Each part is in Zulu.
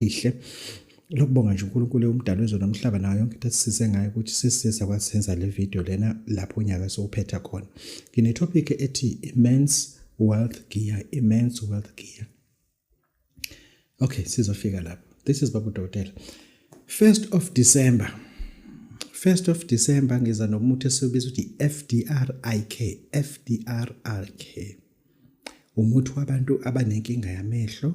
ihle lokubonga nje uNkulunkulu umdali wezwe nomhlaba nayo yonke into esisize ngayo ukuthi sisiza kwasenza le video lena lapho unyaka sowuphetha khona ngine topic ethi immense wealth gear immense wealth gear okay sizofika lapho this is babu dokotela 1st of December 1st of December ngiza nomuthi esibiza ukuthi FDRIK FDRIK umuthi wabantu abanenkinga yamehlo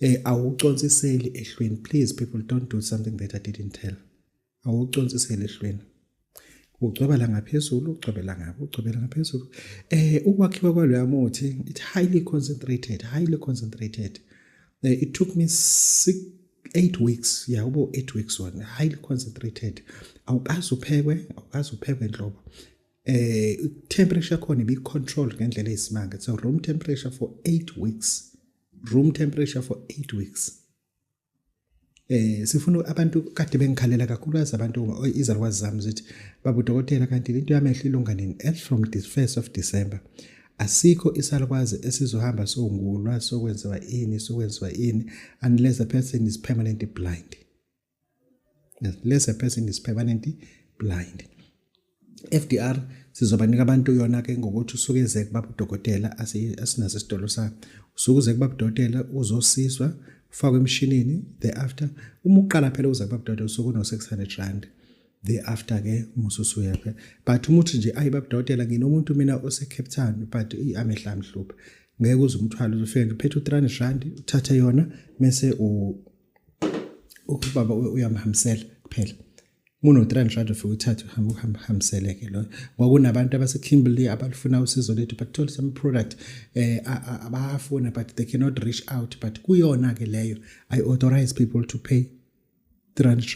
Eh awuconsiseli ehlweni please people don't do something that I didn't tell. Awuconsiseli ehlweni. Ucwebela ngaphezulu, ucwebela ngapha, ucwebela ngaphezulu. Eh ukwakhiwa kwaloya muthi it highly concentrated, highly concentrated. Eh, it took me 6 8 weeks yabo 8 weeks one highly concentrated awukazi uphekwe awukazi uphekwe nhlobo eh temperature khona ibi control ngendlela eyisimanga so room temperature for 8 weeks room temperature for 8 weeks eh sifuna abantu kade bengikhalela kakhulu abantu izalukwazi zami zithi babu dokotela kanti into yamehlo ilunga nini as from the 1st of December asikho isalukwazi esizohamba songulwa sokwenziwa ini sokwenziwa ini unless the person is permanently blind yes less a person is permanently blind FDR sizobanika abantu yona ke ngokuthi usuke eze kubaba udokotela asinaso isitolo sa usuke uze kubaba udokotela uzosizwa ufakwe emshinini thereafter uma uqala phela uza kubaba udokotela usuke uno 600 rand thereafter ke umususu yakhe but umuthi nje ayi baba udokotela nginomuntu mina ose Cape Town but amehla amhlupha ngeke uze umthwalo uzofika ngiphethe u300 rand uthathe yona mase u ubaba uyamhambisela kuphela muno 300 ufike uthathe uhamba uhamba hambisele ke lo kwakunabantu abase Kimberley abalifuna usizo lethu but told some product eh abafuna but they cannot reach out but kuyona ke leyo i authorize people to pay 300